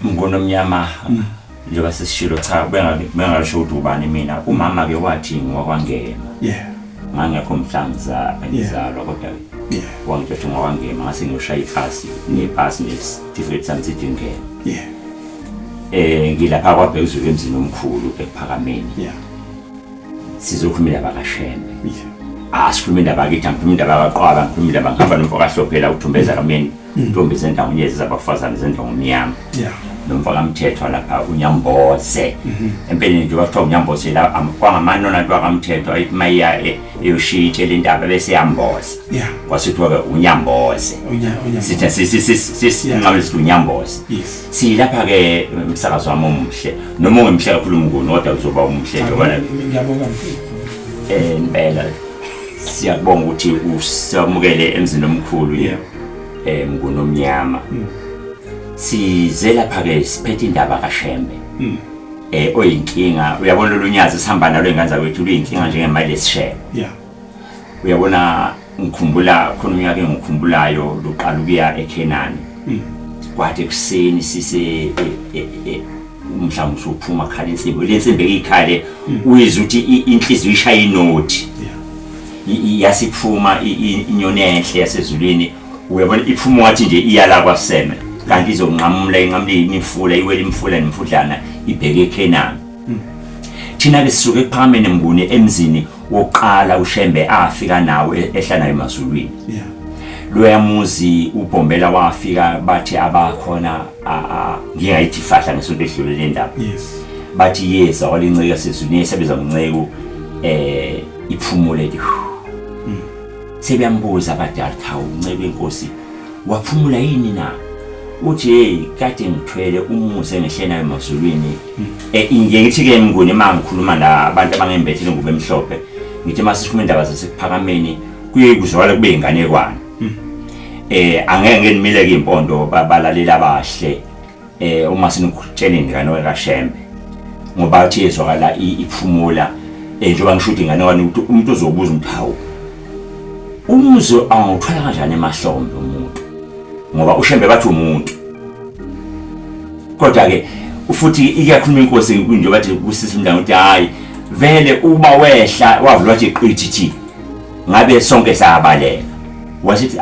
Mnguni omnyama mm. njengoba sesishilo cha bengasho ukuthi ubani mina umama ke wathi ngiwakwangema yeah ngangekho mhla ngizalwa kodwa yeah wangithatha ngawangema ngase ngiyoshaya ipasi nepasi nesitifiketi sami sithi ngena yeah eh ngilapha kwabhekuzulu emzini omkhulu ekuphakameni yeah sizokhuluma indaba kashembe yeah asikhuluma indaba kithi angikhuluma indaba kaqwaba ngikhuluma indaba ngihamba nomfoka hlophela uthumbeza kamyeni intombi zendawunye zizabafazane zendongo omnyama yeah nomfaka mthethwa lapha unyamboze mhm. empeleni nje kwathiwa unyamboze la kwangamanona nto akamthethwa ayithi uma iya e, eyoshiya itshela indaba bese yamboza kwasithiwa-ke unyamboze sithe sisinqabele sithi unyamboze silapha-ke umsakazi wami omuhle noma ungemhle kakhulu umnguni kodwa kuzoba umuhle nje kona um impela siyakubonga ukuthi usamukele emzini omkhulu yeah. eh mngunomnyama hmm. size lapha ke siphethe indaba kaShembe hmm. eh oyinkinga uyabona lolunyazi sihamba nalo ingane zakwethu luyinkinga njengemali lesishebe yeah uyabona ngikhumbula khona unyaka engikhumbulayo luqala ukuya eKhenani hmm. kwathi kuseni sise e, e, e, mhlawumbe usuphuma khala insimbi le nsimbi eyikhale uyizwa ukuthi inhliziyo ishaya inothi yeah yasiphuma inyoni enhle yasezulwini uyabona iphuma wathi nje iyala kwaseme kanti izonqamula inqamule imifula iwele imifula nemfudlana ibheke eKhenani hmm. thina ke sisuke phakame nembuni emzini wokuqala uShembe afika nawo e-, ehlanayo emazulwini yeah loyamuzi ubhombela wafika bathi abakhona ngingayithi fahla ngesonto edlule le ndaba yes bathi yeza walinceka sezulwini esebenza ngonceku eh iphumule ke hmm. sebeyambuza abadala cha uncebe inkosi waphumula yini na uthi hey kade ngithwele umuze ngehlena emazulwini hmm. eh ngiye ngithi ke mnguni uma ngikhuluma la abantu abangembethile ngubo emhlophe ngithi masishume indaba zasekuphakameni kuye kuzwakala kube inganekwane hmm. eh angeke ngimile ke impondo babalaleli abahle eh uma sinukutshela ingane wekashembe ngoba athi yezwakala iphumula eh njengoba ngisho ukuthi ingane wani ukuthi umuntu uzobuza ukuthi hawu umuzi awuthwala kanjani emahlombe umuntu ngoba ushembe bathi umuntu kodwa ke futhi iyakhuluma inkosi njengoba nje kusisi mntana ukuthi hayi vele uba wehla wavula wathi qithi ngabe sonke sayabaleka wasithi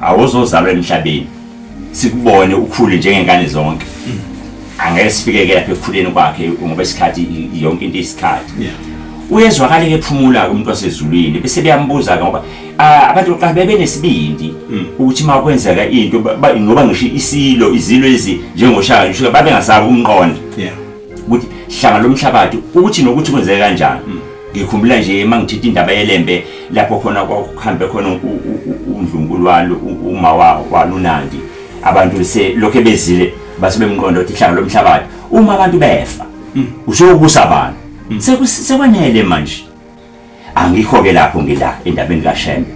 awuzozalwa emhlabeni sikubone ukhule njengengane zonke mm. angeke sifike ke lapha ekukhuleni kwakhe ngoba isikhathi yonke into isikhathi uyezwakala ke phumula ke umuntu wasezulwini bese beyambuza ke ngoba abantu oqala bebe nesibindi mm. ukuthi uma kwenzeka into ngoba ngisho isilo izilo ezi njengoshaka ngisho babe ngasabi umqondo ukuthi hlanga lomhlabathi ukuthi nokuthi kwenzeke kanjani hmm. ngikhumbula nje uma ngithetha indaba yelembe lapho khona kwakuhambe khona undlunkulu walo uma walunandi abantu lokhu bezile base bemqonda ukuthi ihlanga lomhlabathi uma abantu befa hmm. usho ukusa abantu hmm. sekwanele manje angikho-ke lapho ngila endabeni kashembe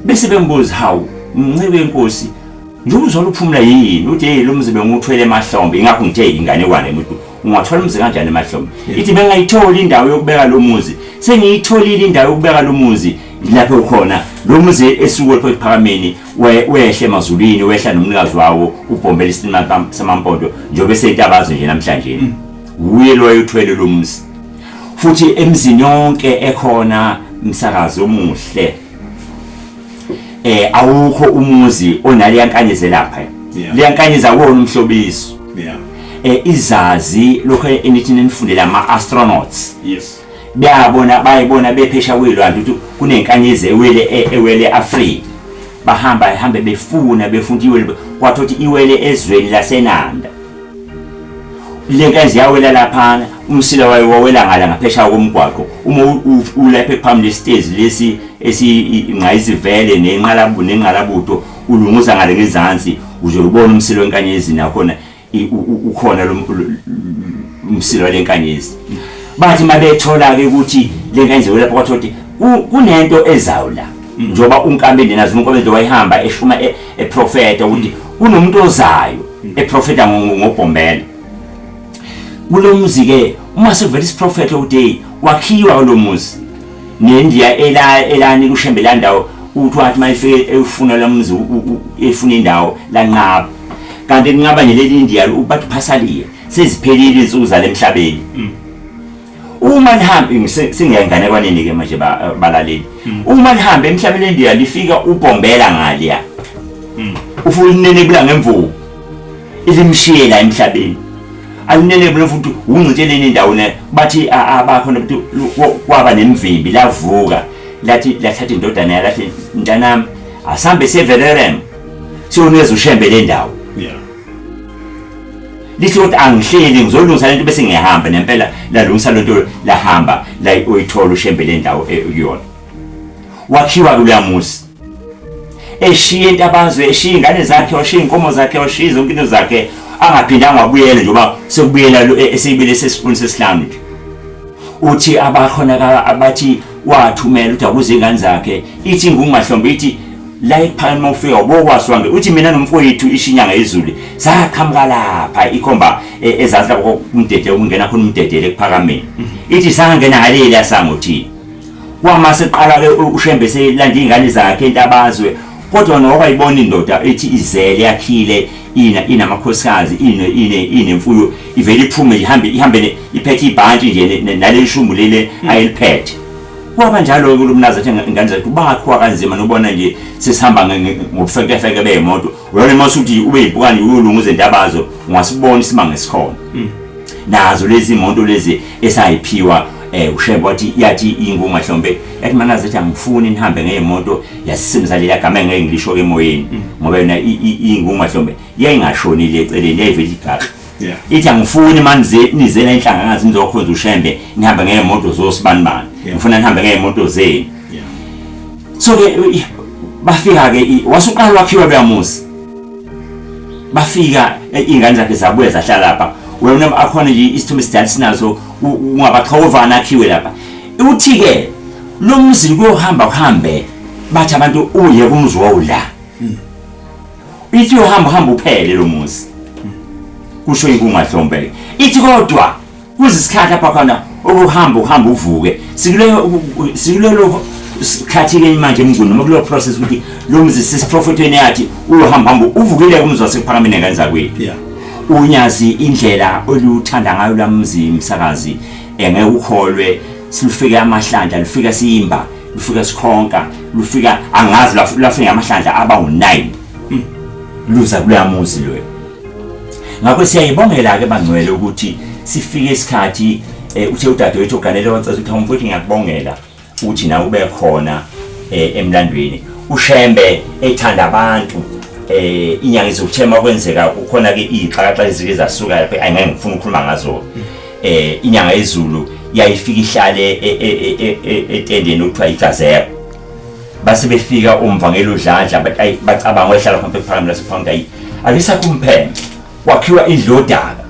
bese bembuza hawu mncebe wenkosi njengoba uzwala uphumula yini uthi yeyi lo mzi bengiwuthwele emahlombe ingakho ngithe inganekwane emuntu ungathwala umzi kanjani emahlombe ithi bengayitholi indawo yokubeka lo muzi sengiyitholile indawo yokubeka lo muzi lapho ukhona lo muzi esuke lapho ekuphakameni wehle emazulwini wehla nomnikazi wawo ubhombela isinima samampondo njengoba eseyintabazo nje namhlanje wuye loyo uthwele lo muzi futhi emzini yonke ekhona msakazi omuhle eh awukho umuzi onale yankanyeze lapha liyankanyeza kuwona umhlobiso yeah eh izazi lokho enithi nenifundela ama astronauts yes bayabona bayibona bephesha kwilwandle ukuthi kunenkanyezi ewele e, ewele Africa bahamba ehambe befuna befunda iwele kwathothi iwele ezweni lasenanda le nkazi yawela laphana umsila wayo wawela ngala ngaphesha komgwaqo uma ulapha ekuphambi lesitezi lesi esingqayizivele nenqalabu nenqalabutho ulunguza ngale ngezansi uze ubone umsila wenkanyezi nakhona ukhona lo umsila wale nkanyezi bathi uma bethola-ke ukuthi le nkanzi welapha kwathiwa ukuthi kunento ezayo la njengoba unkambe nina zuma unkambe nje wayihamba eshuma e-, eprofeta ukuthi kunomuntu ozayo hmm. eprofeta ngobhombela kulo muzi ke uma sevela isiprofetho ukuthi wakhiwa kulo muzi nendiya ela elani kushembe la ndawo uthi wathi uma efike efuna lo muzi efuna indawo lanqaba kanti kunqaba nje leli indiya ubathi phasaliye seziphelile insuku zalemhlabeni hmm. uma nihambe singeya enganekwaneni ke manje balaleli hmm. uma nihambe emhlabeni endiya lifika ubombela ngaliya hmm. ufuna inene bula ngemvubu ilimshiyela emhlabeni alinene bula futhi ungcitsheleni indawo ne bathi abakho nokuthi kwaba nemvimbi lavuka lathi lathatha indodana yalathi ntanami asambe severerem siyoneza ushembe le ndawo lithi ukuthi angihleli ngizolungisa lento bese ngiyahamba nempela lalungisa lento lahamba la uyithola ushembe le ndawo e, kuyona wakhiwa kuloya muzi eshiye intabazwe eshiye ingane zakhe washiye inkomo zakhe washiye zonke into zakhe angaphindanga wabuyela njengoba sekubuyela e, eseyibile sesifuni sesihlanu nje uthi abakhona abathi wathumela ukuthi akuze ingane zakhe ithi ngumahlombe ithi la ephakeni uma ufika ubokwazi uhambe uthi mina nomfowethu ishinyanga izulu saqhamuka lapha ikhomba e, ezansi lapho kumdede ukungena khona umdedele ekuphakameni mhm. ithi sangena ngaleli yasangothini kwama seqala-ke ushembe selanda iy'ngane zakhe entabazwe kodwa noba ibona indoda ethi izele yakhile ina inamakhosikazi ine ine inemfuyo ivele iphume ihambe ihambe iphethe ibhantshi nje naleli shumbu lele ayeliphethe kwaba njalo-ke ulumnazi athi ingane zethu bakhiwa kanzima nobona nje sesihamba ngobufekefeke bey'moto uyona uma usuthi ube yibhukane uyolunga izintabazo ungasibona isimanga esikhona hmm. nazo lezi moto lezi esayiphiwa eh ushembe wathi yathi ingunga hlombe yathi mana zethi angifuni nihambe ngemoto yasisimza leya gama engeke ngilisho ke emoyeni hmm. ngoba yona ingunga hlombe yayingashonile eceleni yayivele igaka yeah. ithi angifuni manje nizela inhlanga ngazi nizokhonza ushembe nihamba ngeemoto zosibanibani yeah. ngifuna nihambe ngeemoto zenu yeah. so ke bafika ke wasuqala wakhiwa beyamuzi bafika e, ingane zakhe zabuye zahlala lapha wena akhona nje isithombe sidala sinazo ungabaxhovana akhiwe lapha uthi ke lo mzi kuyohamba kuhambe bathi abantu uye kumzi wawula ithi uyohamba hamba uphele lo muzi kusho inkungahlombe ithi kodwa kuze isikhathi apha khona ukuhamba ukuhamba uvuke sikulelo sikhathile manje emnguni noma kuleyo process ukuthi lo muzi sisiprofethweni yathi uyohamba hamba uvukile kumzi wasephakameni ngenzakwethu unyazi indlela oluthanda ngayo lamzi msakazi engeke ukholwe silufike amahlandla lufika siyimba lufika sikhonka lufika angazi lafika amahlandla aba u9 hmm. luza kuloya muzi lo ngakho siyayibongela ke bangcwele ukuthi sifike isikhathi eh, uthe udadewethu oganele wacela ukuthi awumfuthi ngiyakubongela ukuthi nawe ube khona eh, emlandweni ushembe ethanda abantu eh inyanga izothema kwenzeka kukhona ke ixhakaxa ezike zasuka lapha ayingeke ngifuna ukukhuluma ngazo eh inyanga yezulu yayifika ihlale e, e, e, etendeni okuthiwa igazela base befika umvangeli udlandla bacabanga wehlala khona ephakami lasephakami ayi akisakho umpheme kwakhiwa indlu yodaka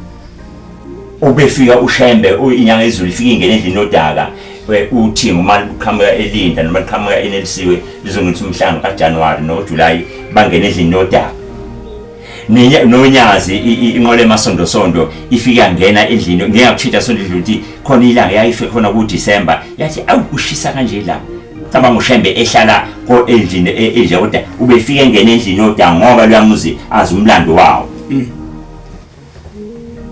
ubefika ushembe inyanga yezulu ifika ingene endlini yodaka uthi uma liqhamuka elinda noma liqhamuka enelisiwe lizongenisa umhlanga kajanuwari nojulayi bangene endlini yodaka nonyazi inqola emasondosondo ifike yangena endlini ngeke akuthinta sonto edlule ukuthi khona ilanga yayife khona kudisemba yathi awu kushisa kanje la cabanga ushembe ehlala endlini e, endle kodwa ubefike engena endlini yodwa ngoba luyamuzi azi umlando wawo mm.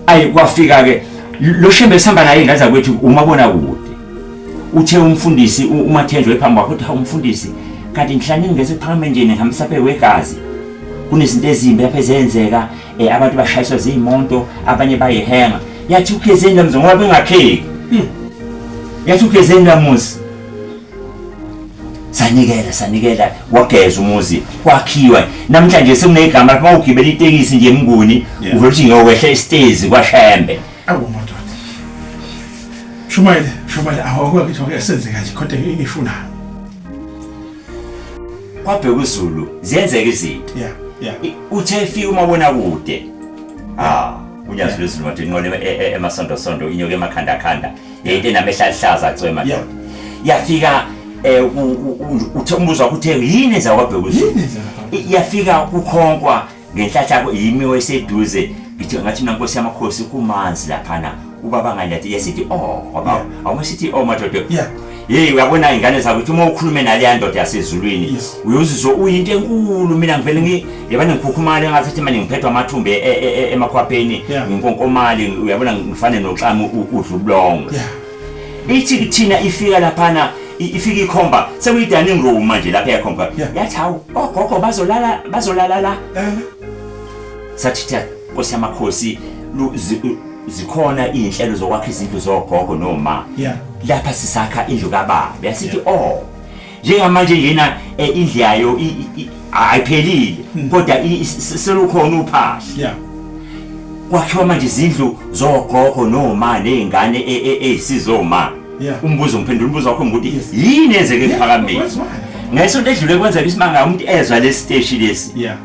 ayi kwafika ke lo shembe esihamba naye ingane zakwethu umabona kude uthe umfundisi umathenjwa ephambi kwakho uthi hawu umfundisi kanti ngihlane ngingeze phakame nje ngihambisa phe wegazi kunezinto ezimbi lapha ezenzeka um abantu bashayiswa ziyimonto abanye bayihenga yathi ukhezeni lamzi ngoba bengakheki hmm. yathi ukhezeni lamuzi sanikela sanikela wageza umuzi kwakhiwa namhlanje sekunegama lapho mawugibela itekisi nje emnguni Yeah. uvele uthi ngiyokwehla isitezi kwashembe Awu madoda. Shumayile, shumayile awakho ukuthi wake senze kanje kodwa ngifuna. kwabheka uzulu ziyenzeka izinto Yeah, yeah. I- uthe efika umabonakude ah unyazi lwezulu wathi inqola emasondosondo inyoka emakhandakhanda Yente nami ehlahlaza cwema ndoda. Yafika eh uthe umbuzo wakho uthe yini enza kwabheka uZulu. Yafika kukhonkwa ngenhlahla yimi weseduze ngithi ngathi mina nkosi yamakhosi kumanzi laphana ubaba ngalathi yesithi oh ngoba awusithi oh madoda. Yeah. Hey uyabona ingane zakho ukuthi uma ukhulume nale yandoda yasezulwini uyozizwa uyinto enkulu mina ngivele ngi yabona ngikhukhumale ngathi ithi manje ngiphethwa amathumbi e- e- e- e- emakhwapheni Yeah. nginkonkomali uyabona ngifane noxama u- udla ubulongo ithi kuthina ifika laphana i- ifika ikhomba sekuyi-dining room manje lapha yakhomba Yeah. yathi hawu ogogo bazolala bazolala la sathi thi nkosi yamakhosi lu- zi- u- zikhona iy'nhlelo zokwakha izindlu zogogo noma Yeah. lapha sisakha indlu kababa yasithi o njengamanje njena eh, indlu yayo i- i- i- ayiphelile Hmm. kodwa i- i- se- selukhona uphahla ya kwakhiwa manje izindlu zogogo noma nezingane e- e- eyisizoma Yeah. umbuzo ngiphendula umbuzo wakho ngokuthi Yes. yini enzeke ekuphakambeni Kwenziwani? ngesonto edlule kwenzeka isimanga umuntu ezwa lesi siteshi lesi ya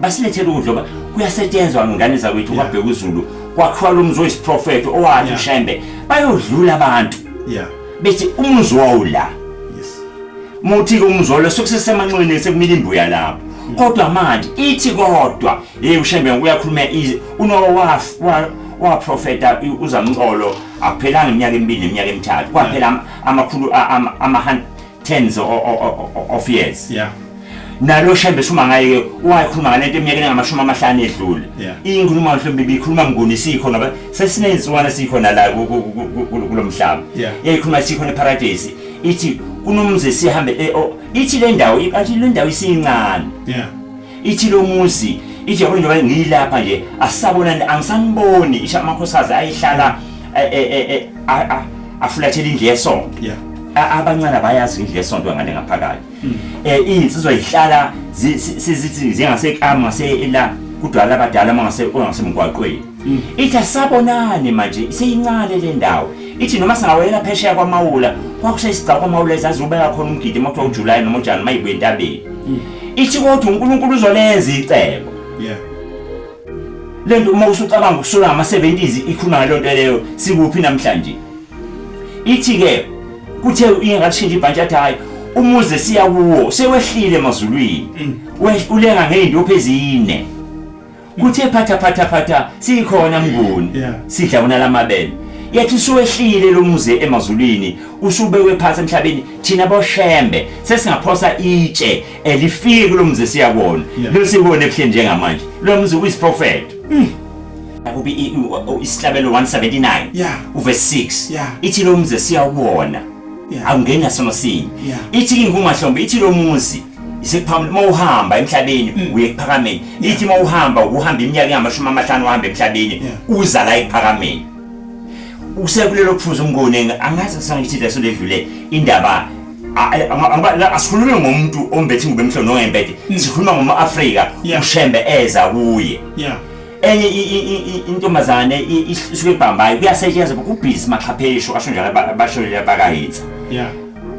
basilethele ukudla oba kuyasetshenzwa ngane zakwethu Yeah. kwabheka uzulu kwakhiwa lo mzi oyisiprofetho owathi Yeah. ushembe bayodlula abantu yeah bethi umuzi wawu la yes muthi-ke umuzi walo sokusesemanxweni sekumile imbuya lapho kodwa manje ithi kodwa yeyi ushembe uyakhuluma ize unowa waprofeta i- uzamxolo akuphelanga iminyaka emibili neminyaka emithathu kwaphela am- amakhulu a- ama- ama- tens of years yeah nalo shembe shuma ngaye wakhuluma ngalento eminyakeni engamashumi amahlanu edlule inkuluma mhlawumbe ibikhuluma mnguni sikho ngoba sesinenziwana sikho nala kulomhlaba yayikhuluma sikho neparadise ithi kunomzi sihambe eh, oh, ithi le ndawo ithi le ndawo isincane ithi lo muzi ithi yabona njengoba ngiyilapha nje asisabonani angisaniboni isho amakhosikazi ayihlala eh, eh, eh, eh, a- a- afulathela indlu yesonto Yeah. A- abancane abayazi indlu yesonto ngale ngaphakathi um iy'nsizwa yihlala zi- si- si- zithi zingasekamu ngasela kudwala abadala uma ngase- ongasemgwaqweni mm. ithi asabonani manje seyincane le ndawo ithi noma singawelela phesheya kwamawula kwakusha isigcawu kwamawula ezazubeka khona umgidi uma kuthiwa ujulayi noma ujani uma yibuye entabeni mm. ithi kodwa unkulunkulu uzolenza icebo le nto uma usucabanga ukusula ngama-70s ikhuluma ngaleyo nto leyo sikuphi namhlanje ithi-ke kuthe ingakashintsha ibhantshi athi hhayi umuze siya kuwo sewehlile emazulwini mm. ulenga ngey'ndophu ezine kuthe phatha phatha phatha sikhona mnguni Yeah. sidla wona lamabele yathi usuwehlile lo muzi emazulwini usubekwe phansi emhlabeni thina boshembe sesingaphosa itshe elifiki kulo muzi siyakona Yeah. lo siwona ebuhleni njengamanje lo muzi uyisiprofeto akubi i- i- o- isihlabelo 179 Yeah. uve 6 Yeah. ithi lo muzi siyawona Yeah. akungeni nasono sinye Yeah. ithi kingumahlombe ithi lo muzi isiphambi uma uhamba emhlabeni hmm. uye ekuphakameni ithi uma uhamba ukuhamba iminyaka engamashumi amahlanu uhamba emhlabeni uza la ekuphakameni usekulelo kufuza umngoni angazi kusangithi leso ledlule indaba asikhulume ngomuntu ombethi ngube mhlonongembede hmm. sikhuluma ngoma-afrika ushembe eza kuye enye intombazane isuke ibhambayo kuyasetshenzwa kubhizi maxhapheshu asho njalo abashonile bakahitha yeah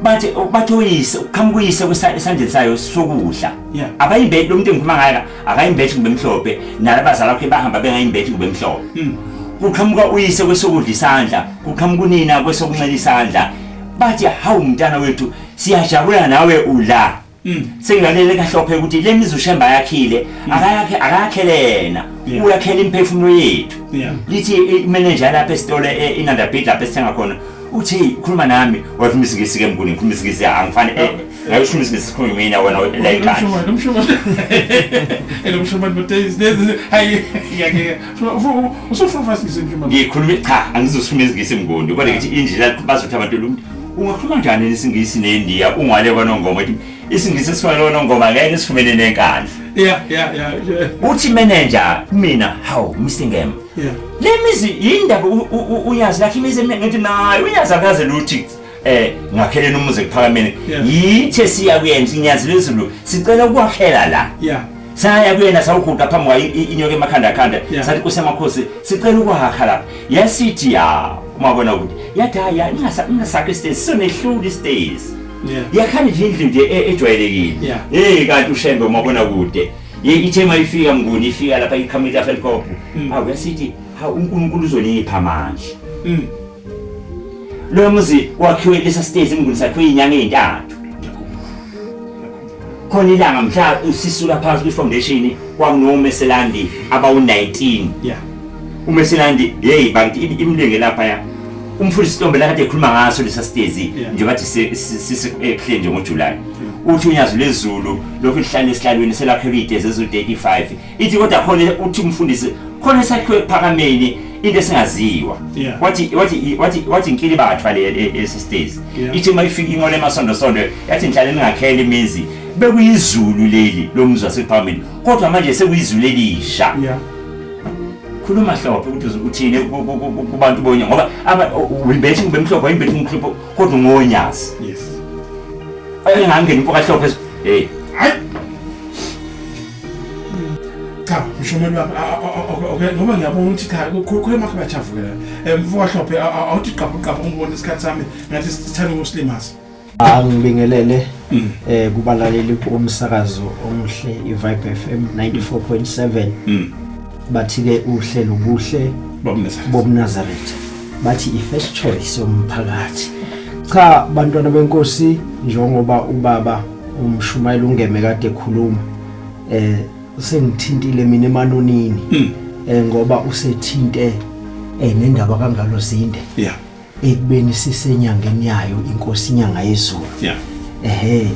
bathi bathi uyise uqhamuka uyise esandleni sayo sokudla abayimbethi lo muntu engikhuluma ngayo akayimbethi kumbe mhlophe nalabazali bakhe bahamba bengayimbethi kumbe mhlophe hmm. kuqhamuka uyise kwesokudla isandla kuqhamuka unina kwesokunxela isandla bathi hawu mntana wethu siyajabula nawe ula Mm. sengilalele kahle wapheka ukuthi le mizi ushemba yakhile mm. akayakhe akayakhelena uyakhela imiphefumulo yethu lithi imenenja lapha esitolo e, inandabid lapha esithenga khona uthi khuluma nami wathi umizingisi ke mnguni ngikhuluma izingisi angifani eh, ngabe usho umizingisi sikhuluma mina wena la inkani ngikhuluma cha angizosukhuluma izingisi mnguni kodwa ngithi indlela bazothi abantu ungakhuluma njani isingisi nendiya ungale kwanongoma ethi isingisi esifana lonongoma ngeke sifumene nenkandla yeah yeah yeah uthi manager mina how mr ngem yeah le mizi yindaba uyazi lakhe imizi ngithi nayo uyazi akaze luthi eh ngakheleni umuzi ekuphakameni yithe siya kuyenza inyazi lezulu sicela ukwakhela la yeah saya kuyena sawuguqa phambi kwayo inyoka emakhanda khanda sathi kusemakhosi sicela ukwakha lapha yasithi ya umabona ukuthi yathi hayi ningasakhe stairs sisonehluli stairs yakhani nje indlu nje e-, ejwayelekile hey kanti ushembe umabona kude ithe uma ifika mnguni ifika lapha iqhamuka ihelicopter mm. awu yasithi ha unkulunkulu uzonipha manje mm. Lo muzi wakhiwe lesa sitezi emnguni sakhiwe inyanga ezintathu. Khona ilanga mhla usisula phansi kwi foundation kwakunomeselandi abawu-19. Yeah. umeselandi yeyi bakithi im- imlinge lapha ya umfundisi Stombe lakade ekhuluma ngaso lesa sitezi Yeah. nje bathi si- si- sisekuhle nje ngojulayi uthi unyazi lwezulu lokhu lihlale esihlalweni selakhelwe iy'tezi eziwu-35 ithi kodwa khona uthi umfundisi khona esakhiwe ekuphakameni into esingaziwa Yeah. wathi wathi wathi wathi inkili bathwa le e- esistezi Yeah. ithi uma ifika inqola emasondo sondo yathi ngihlale ningakhela imizi bekuyizulu leli lomzi wasephakameni kodwa manje sekuyizulu elisha Yeah. khuluma hlophe ukuthi uzu- uthini ku- ku- ku- ku- kubantu bonya ngoba aba- u- uyibethi kube mhlophe ayibethi umhlophe kodwa ungonyazi Yes. engangeni impoka hlophe hey cha mshomeni wami okay ngoba ngiyabona ukuthi cha khona makhe bajavukela eh, mfoka hlophe awuthi qabhu qabhu ngibona isikhathi sami ngathi sithanda ukusilimaza angibingelele mm. eh kubalaleli bomsakazo omuhle iVibe FM 94.7 mm. bathi ke uhle nobuhle bobuNazareth bathi ifirst choice yomphakathi cha bantwana benkosi njengoba ubaba umshumayeli ungeme kade ekhuluma eh usengithintile mina emanonini hmm. eh ngoba usethinte eh nendaba kangalo zinde yeah ekubeni sisenyangeni yayo inkosi inyanga yezulu yeah ehe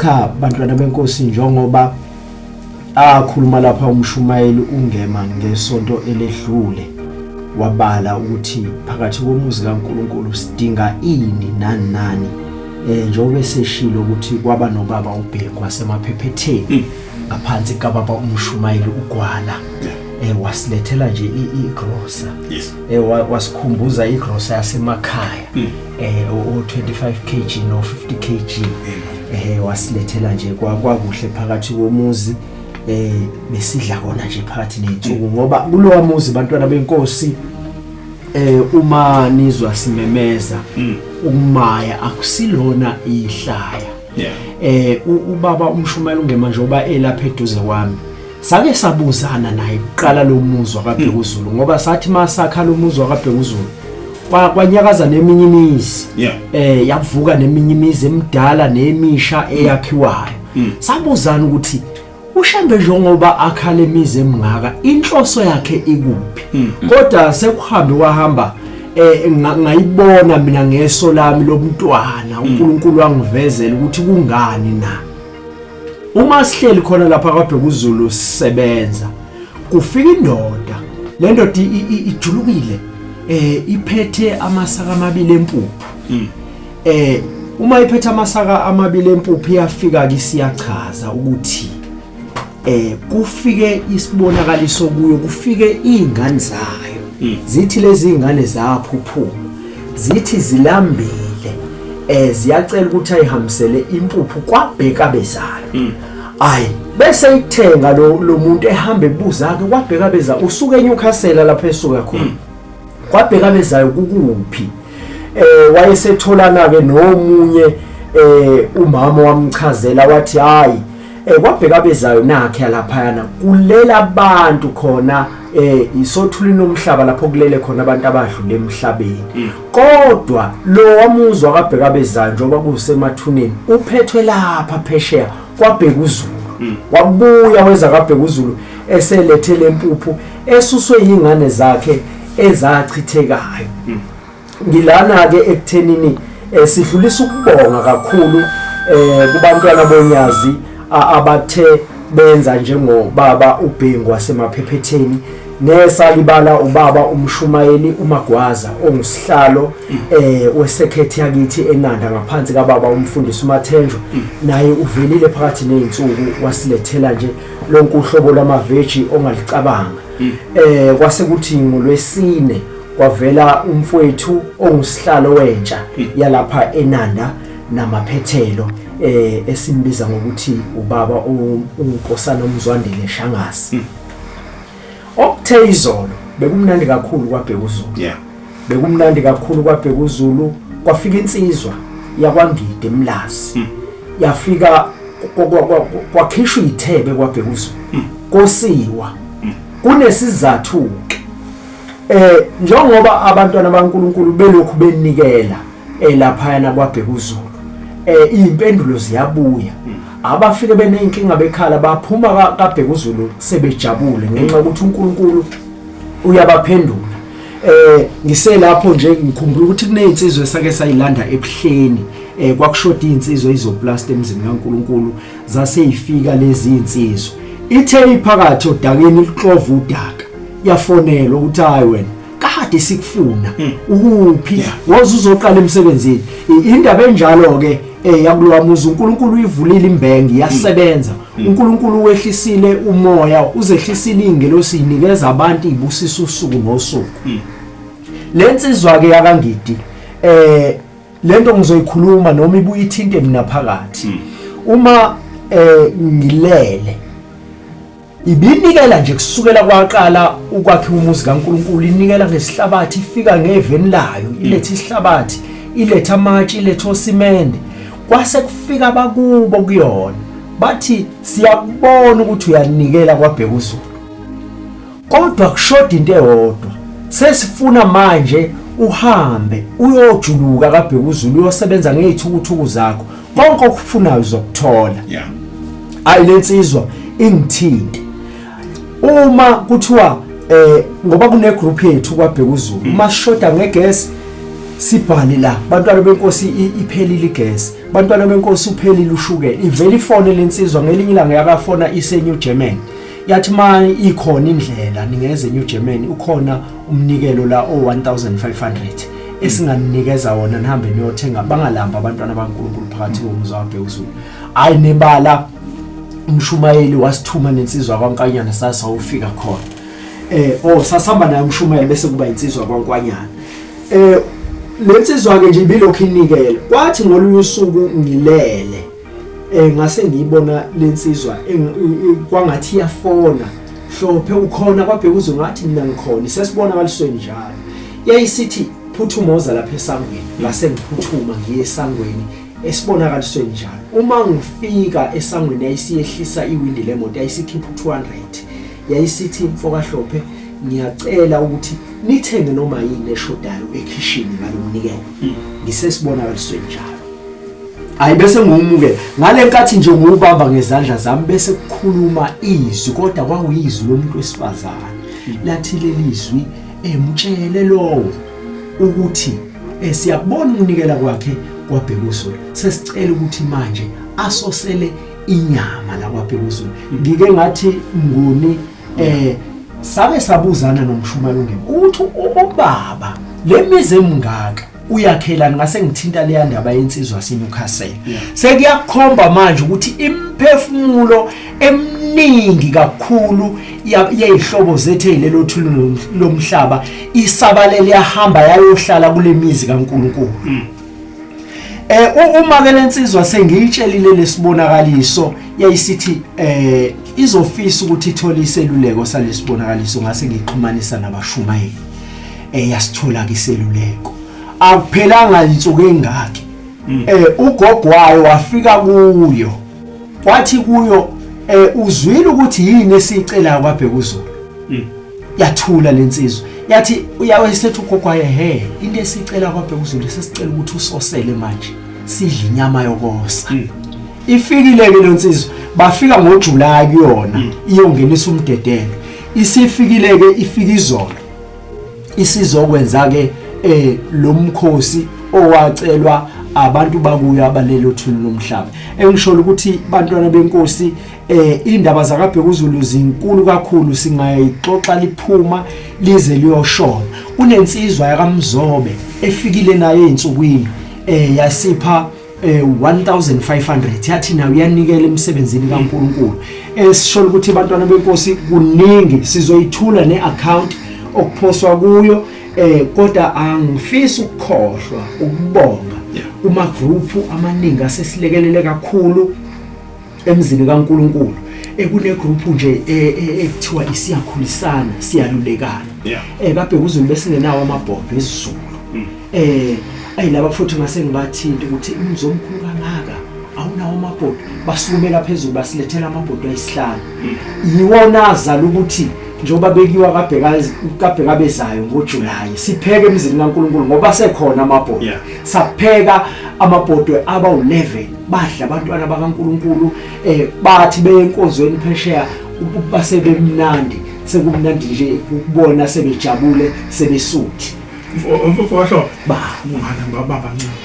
cha bantwana benkosi njengoba Akhuluma lapha umshumayeli uNgema ngesonto eledlule wabala ukuthi phakathi komuzi kaNkulunkulu sidinga ini nani nani eh njengoba eseshilo ukuthi kwaba nobaba uBheki wasemaphephetheni hmm. ngaphansi kababa umshumayeli uGwala eh wasilethela nje igrosa yes eh wasikhumbuza igrosa yasemakhaya hmm. eh o 25 kg no 50 kg eh wasilethela nje kwakuhle phakathi komuzi eh besidla kona nje phakathi nensuku ngoba kulowa muzi bantwana benkosi eh uma nizwa simemeza mm. umaya akusilona ihlaya eh ubaba umshumayeli ungemanje oba elapha eduze kwami sake sabuzana naye kuqala lo muzwa kabhekuzulu mm. ngoba sathi masakha lo muzwa kabhekuzulu kwanyakaza neminye imizi yeah. eh yavuka neminye imizi emidala nemisha eyakhiwayo mm. sabuzana ukuthi ushembe njengoba akhala imizi emngaka inhloso yakhe ikuphi mm. kodwa sekuhambe wahamba eh ngayibona mina ngeso lami lomntwana uNkulunkulu wangivezela ukuthi kungani na uma sihleli khona lapha kwaBheka uZulu sisebenza kufika indoda le ndoda ijulukile eh iphethe amasaka amabili empuphu hmm. eh uma iphethe amasaka amabili empuphu iyafika ke siyachaza ukuthi eh kufike isibonakaliso kuyo kufike izingane zayo hmm. zithi lezi zingane zaphuphuka zithi zilambile eh ziyacela ukuthi ayihambisele impuphu kwabheka bezalo hmm. ayi bese ithenga lo lo muntu ehamba ebuza ke kwabheka beza usuke eNewcastle lapha esuka khona hmm. kwabheka bezayo kukuphi eh wayesetholana ke nomunye eh umama wamchazela wathi hayi eh kwabheka bezayo nakhe yalaphayana kulela abantu khona eh isothuli nomhlaba lapho kulele khona abantu abadlule emhlabeni mm. kodwa lo wamuzwa kabheka bezayo njengoba kusemathuneni uphethwe lapha phesheya kwabheka uzulu mm. wabuya weza kabheka uzulu eselethele impuphu esuswe yingane zakhe ezachithekayo mm. ngilana ke ekuthenini eh, sidlulisa ukubonga kakhulu eh kubantwana bonyazi abathe benza njengobaba ubhengu wasemaphephetheni nesalibala ubaba umshumayeli umagwaza ongusihlalo eh wesekhethi yakithi enanda ngaphansi kababa umfundisi umathenjwa naye uvelile phakathi nezinsuku wasilethela nje lonke uhlobo lamaveji ongalicabanga eh kwase kuthi ngolwesine kwavela umfowethu ongusihlalo wentsha yalapha eNanda namaphethelo eh esimbiza ngokuthi ubaba uNkosana uMzwandile Shangasi okuthe izolo bekumnandi kakhulu kwaBhekuzulu yeah bekumnandi kakhulu kwaBhekuzulu kwafika insizwa yakwangide emlazi hmm. yafika kwakhishwa ithebe kwaBhekuzulu hmm. kosiwa hmm. kunesizathu eh njengoba abantwana baNkuluNkulu belokhu benikela elaphayana eh, kwabheka uZulu eh impendulo ziyabuya hmm. abafike benenkinga bekhala baphuma kabheka uZulu sebejabule ngenxa ukuthi uNkulunkulu uyabaphendula eh ngiselapho nje ngikhumbula ukuthi kunezinsizwe sake sayilanda ebuhleni eh kwakushoda izinsizwe izoplast emzini kaNkuluNkulu zaseyifika lezi zinsizwe ithe iphakathi odakeni lixova udaka yafonelwa ukuthi hayi wena kade sikufuna hmm. ukuphi woze uzoqala emsebenzini indaba enjalo ke eh yakulowa muzi uNkulunkulu uyivulile imbengi yasebenza hmm. Hmm. uNkulunkulu wehlisile umoya uzehlisile ingelosi inikeza abantu ibusisa usuku nosuku lensizwa ke yakangidi eh lento ngizoyikhuluma noma ibuye ithinte mina phakathi uma eh ngilele Ibinikela nje kusukela kwaqala ukwakhiwa umuzi kaNkulunkulu, inikela ngesihlabathi, ifika ngeveni layo, ilethe isihlabathi, ilethe amatshe, ilethe osimende. Kwase kufika abakubo kuyona. Bathi siyakubona ukuthi uyanikela kwabheka uZulu. Kodwa kushoda into eyodwa. Sesifuna manje uhambe uyojuluka kabheka uZulu uyosebenza ngezithukuthuku zakho konke okufunayo uzokuthola yeah ayi lensizwa ingithinte uma kuthiwa eh ngoba kune group yethu kwabheka uzulu mm. uma shoda ngegesi sibhale la bantwana benkosi iphelile igesi bantwana benkosi uphelile ushukela ivele ifone lensizwa ngelinye ilanga yakafona ise New Germany yathi manje ikhona indlela ningenze New Germany ukhona umnikelo la o 1500 esinganikeza wona nihambe niyothenga bangalamba abantwana baNkulunkulu phakathi komuzi wabhekuzulu hayi nebala umshumayeli wasithuma nensizwa kwaNkanyana sasa ufika khona eh oh sasihamba naye umshumayeli bese kuba insizwa kwaNkwanyana eh lensizwa ke nje ibilokhu inikela kwathi ngolunye usuku ngilele eh ngase ngiyibona lensizwa kwangathi iyafona hlophe ukhona kwabheka uzwe ngathi mina ngikhona sesibona balisweni njalo yayisithi phuthuma oza lapha esangweni ngase ngiphuthuma ngiye esangweni esibonakalisweni njalo uma ngifika esangweni ayisiyehlisa iwindi lemoto ayisikhipha u200 yayisithi mfokahlophe ngiyacela ukuthi nithenge noma yini eshodayo ekhishini ngalomnikelo hmm. ngisesibonakalisweni njalo hayi bese ngiwumukela ngale nkathi nje ngiwubamba ngezandla zami bese kukhuluma izwi kodwa kwakuyizwi lomuntu wesifazane hmm. lathi leli zwi emtshele lowo ukuthi eh, siyakubona ukunikela kwakhe kwabhekuzulu sesicela ukuthi manje asosele inyama la kwaBhekuzulu ngike ngathi nguni eh sake sabuzana nomshumayeli ungemi uthi ubaba le mizi emngaka uyakhelani ngase ngithinta leya ndaba yensizwa sinukhasela sekuyakhomba manje ukuthi imphefumulo eminingi kakhulu yeyihlobo zethu ezilelo thululo lomhlaba isabalele yahamba yayohlala kulemizi kaNkuluNkulu hmm. Eh uma ke lensizwa sengiyitshelile lesibonakaliso yayisithi eh izofisa ukuthi ithole iseluleko salesibonakaliso ngase ngixhumanisa nabashumayeli. Eh yasithola ke iseluleko. Akuphelanga insuku engaki. Mm. Eh ugogo wayo wafika kuyo. wathi kuyo eh uzwile ukuthi yini esicelayo kwaBhekuzulu hmm. yathula lensizwa yathi uyawesethu kokwaye he into esicela kwaBhekuzulu sesicela ukuthi usosele manje sidle inyama yokosa hmm. ifikile ke lensizwa bafika ngoJuly kuyona hmm. iyongenisa umdedelo isifikile ke ifika izolo isizokwenza ke eh lo mkhosi owacelwa abantu bakuyo abalelo thulu lomhlaba engisholo ukuthi bantwana benkosi eh indaba zakabhekuzulu zinkulu kakhulu singayixoxa liphuma lize liyoshona kunensizwa yakamzobe efikile naye ensukwini eh yasipha eh 1500 yathi nayo uyanikela emsebenzini kaNkuluNkulu esisholo eh, ukuthi abantwana benkosi kuningi sizoyithula neaccount okuphoswa kuyo eh kodwa angifisi ukukhohlwa ukubonga uma group amaningi asesilekelele kakhulu emzini kaNkuluNkulu ekunegruphu nje e, e, ekuthiwa isiyakhulisana siyalulekana yeah. eh kabe kuzulu besingenawo amabhombe ezizulu mm. eh ayi laba futhi ngase ngibathinta ukuthi umzomkhulu kangaka awunawo amabhodi basukumela phezulu basilethela amabhodi ayisihlanu mm. yiwona azala ukuthi njengoba bekiwa kabheka bezayo ngojulayi sipheke emzini kankulunkulu ngoba sekhona amabhodwe yeah. sapheka amabhodwe aba-11 badla abantwana bakaNkuluNkulu eh bathi beye enkonzweni phesheya basebemnandi sekumnandi nje ukubona sebejabule sebesuthi mfowasho ba ungana baba bancane